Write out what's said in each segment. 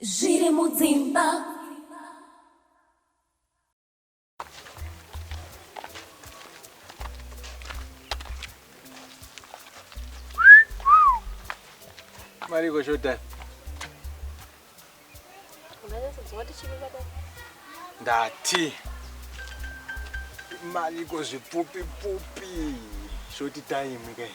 Zviri mudzimba. Mariko showtime. Ndati. Mariko zvipfupi pfupi. Short time kai.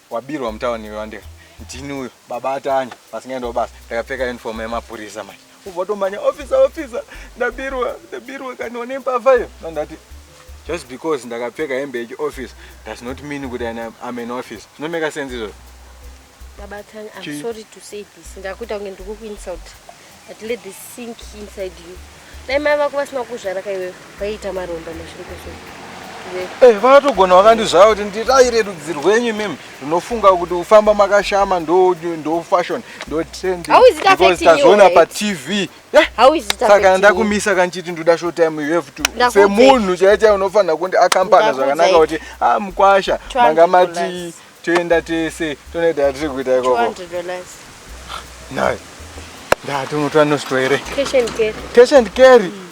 Wabirwa mutown iwe Wandera. Ndini uyo baba aTanya vasingaendawo basa ndakapfeka uniform yemapurisa manje. Ubva watomhanya officer officer ndabirwa ndabirwa kani one mbavha iyo. No ndati just because ndakapfeka hembe yechi office does not mean kuti I am- I'm an office. Zvinomeka sense izvozvo. Baba Tanya, Chii? I'm sorry to say this. Ndakuita kunge ndikukuinsult. but let this sink inside you dai mai vako vasina kuzvara ka iwewe vaiita maromba mazvirikoso Eh, vakatogona vakandizvaya kuti ndiraire rudzi rwenyu mim runofunga kuti ufamba makashama ndofashion ndotendtazviona patv saka ndakumisa kanchiti ndoda show time you have to semunhu chaichai unofanira kundi akampana zvakanaka kuti a ah, mukwasha manga mati toenda tese tonoita atiri kuita ikoko nhai ndatumutwa nostwa here cash and carry mm.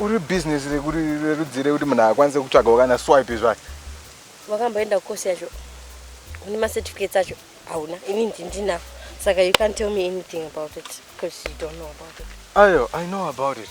uri business rerudzi rekuti munhu akwanise kutsvagawo kana swipe zvayo wakamboenda kukosi yacho une macertificates acho hauna ini ndindinavo saka you can't tell me anything about it because you don't know about it ayo i know about it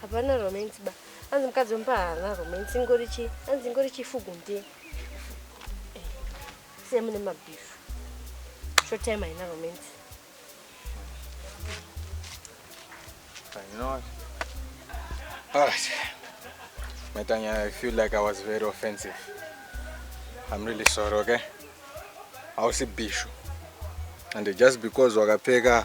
hapana romance ba anzi mukadzi wemba haana romance ingori chi anzi ingori chifugu ndiye semune mabhifu short time haina romance You know what? Oh, Metanya, I feel like I was very offensive. I'm really sorry, okay? I was a bishu. And just because wakapfeka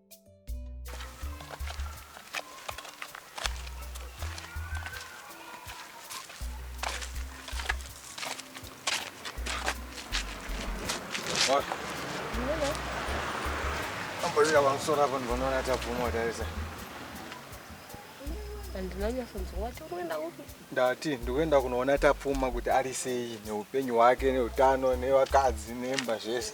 Ambolira pamusoro apo ndinoona tabvuma watarisa. Ndati ndikuenda kunoona tapfuma kuti ari sei neupenyu hwake neutano nevakadzi nemba zvese.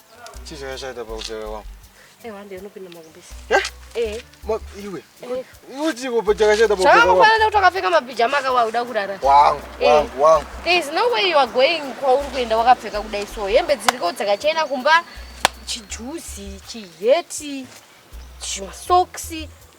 Chii changa chaita pakutevera kwangu? Eh, wande unopinda makumbisi. Eh? Eh. Ma iwe. Eh. Iwe chiko pa changa chaita pakutevera kwangu. Changa kuti wakapfeka mapijama aka wauda kurara. Wangu, eh. wangu, wangu. There is no way you are going kwa uri kuenda wakapfeka kudai so. Hembe dziriko dzakachena kumba chijuzi, chiheti, chimasokisi.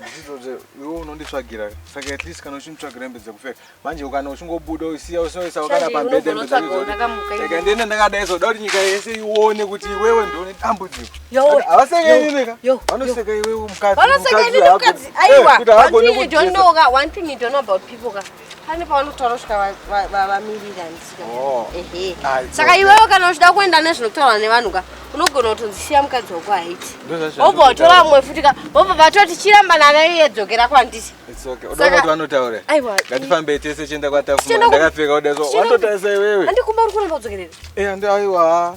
Ndizvozve iwe unonditsvagira saka at least kana uchinditsvagira hembe dzekupfeka manje kana uchingobuda usiya usoisa wakada pambede hembe dzekupfeka ndiende ndakadai zoda kuti nyika yese ione kuti iwewe ndiwo une dambudziko havaseka inini ka vanoseka iwewe mukadzi kuti haagone kutii pane pavanotaura svika vamirira ndisika oh. ehe saka iwewe kana uchida kuenda nezvinotaura nevanhu ka unogona kutonzi siya mukadzi wako haiti obva watora mumwe futi ka obva vatoti chiramba nana iye dzokera kwandisi ngatifambei tese chienda kwatafuma ndakapfeka kudaso wandotarisa iwewe andikumba uri kuramba udzokerere eh, aiwa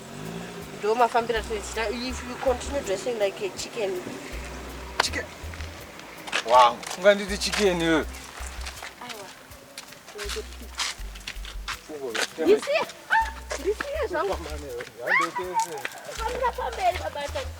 ndomafambira tinoita if you continue dressing like a chicken chicken wow unganditi chicken iwe ndisiye ndisiye zvangu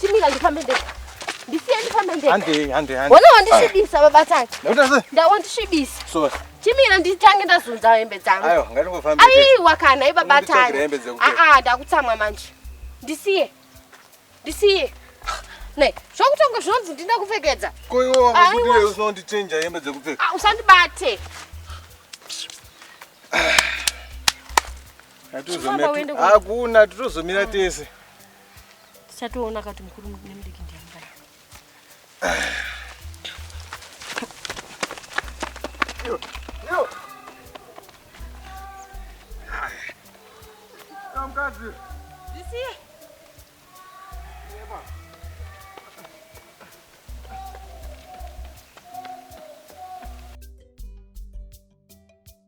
Chimira ndifambe ndega. Ndisiye ndifambe ndega. Hande hande hande. Wona wandisvibisa baba Tati. Ndakuita sei? Ndawandisvibisa. So. Chimira nditange ndazunza hembe dzangu. Ayo ngatingofambe. Aiwa kana ibaba Tati. Ah ah ndakutsamwa manje. Ndisiye. Ndisiye. Ne, zvokutanga zvinonzi ndinda kupfekedza. Ko iwe wakudire usondichenja hembe dzekupfeka. Ah usandibate. Hakuna titozomira tese. tichatoona kuti mukuru nemudiki ndiani kana mukadzi zisiye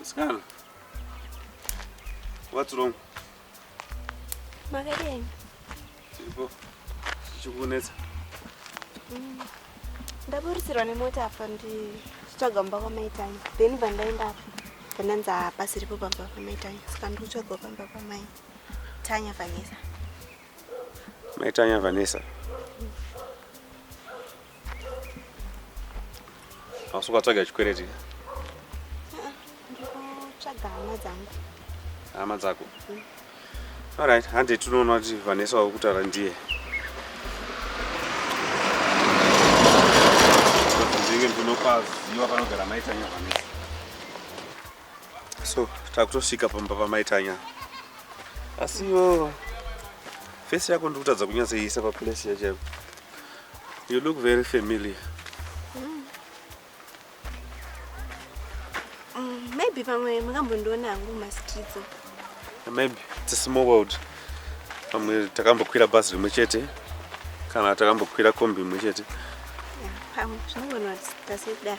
Msikana, what's wrong? Makadini? Chiripo, chichikunetsa. Mm. Ndaburisirwa nemota apa ndichitsvaga mumba kwamaitanya then vandaenda apa pandanzi hapasiripo pamba pamaitanya saka ndikutsvagawo pamba pamai tanya vanesa Mai Tanya Vanessa. Asi ukatsvaga chikwereti? Ndikutsvaga hama dzangu. Hama dzako? Mm. Alright, hande tinoona kuti Vanessa wakutara ndiye. Ndinge ndinopaziwa panogara mai Tanya Vanessa. So takutosvika pamba pamaitanya asi iwo face yako ndikutadza kunyatsoiisa paplace yachaipo. You look very familiar. Mm. Mm, maybe pamwe makambondiona hangu mumastreets. Maybe it's a small world. Pamwe takambokwira bhazi rimwe chete kana takambokwira kombi imwe chete. Pamwe zvinogona kuti tasekudaro.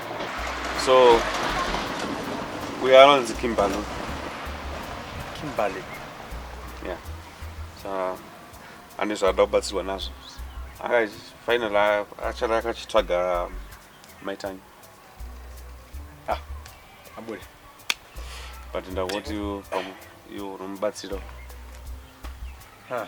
So uyo anonzi Kimberly. Kimberly. Yeah. So ane zvaada kubatsirwa nazvo. Aka final achara akachitsvaga um, maitanyi. Ah, abule. But ndawoti you you unomubatsira. Ha.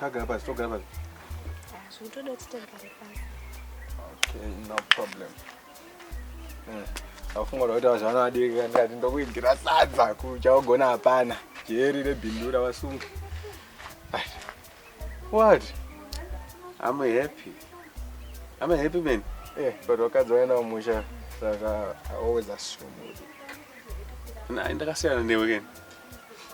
Tagara pasi, togara pasi. Ah, zvikutoda kuti togare pasi. Okay, no problem. Mm. Afunga kuti wazvana adiki kandati ndokuigira sadza kuchaogona hapana. Jeri rebindura wasunga. What? I'm happy. I'm a happy man. Eh, but wakadzi waenda kumusha saka I always assume. Nah, ndakasiyana newe keni.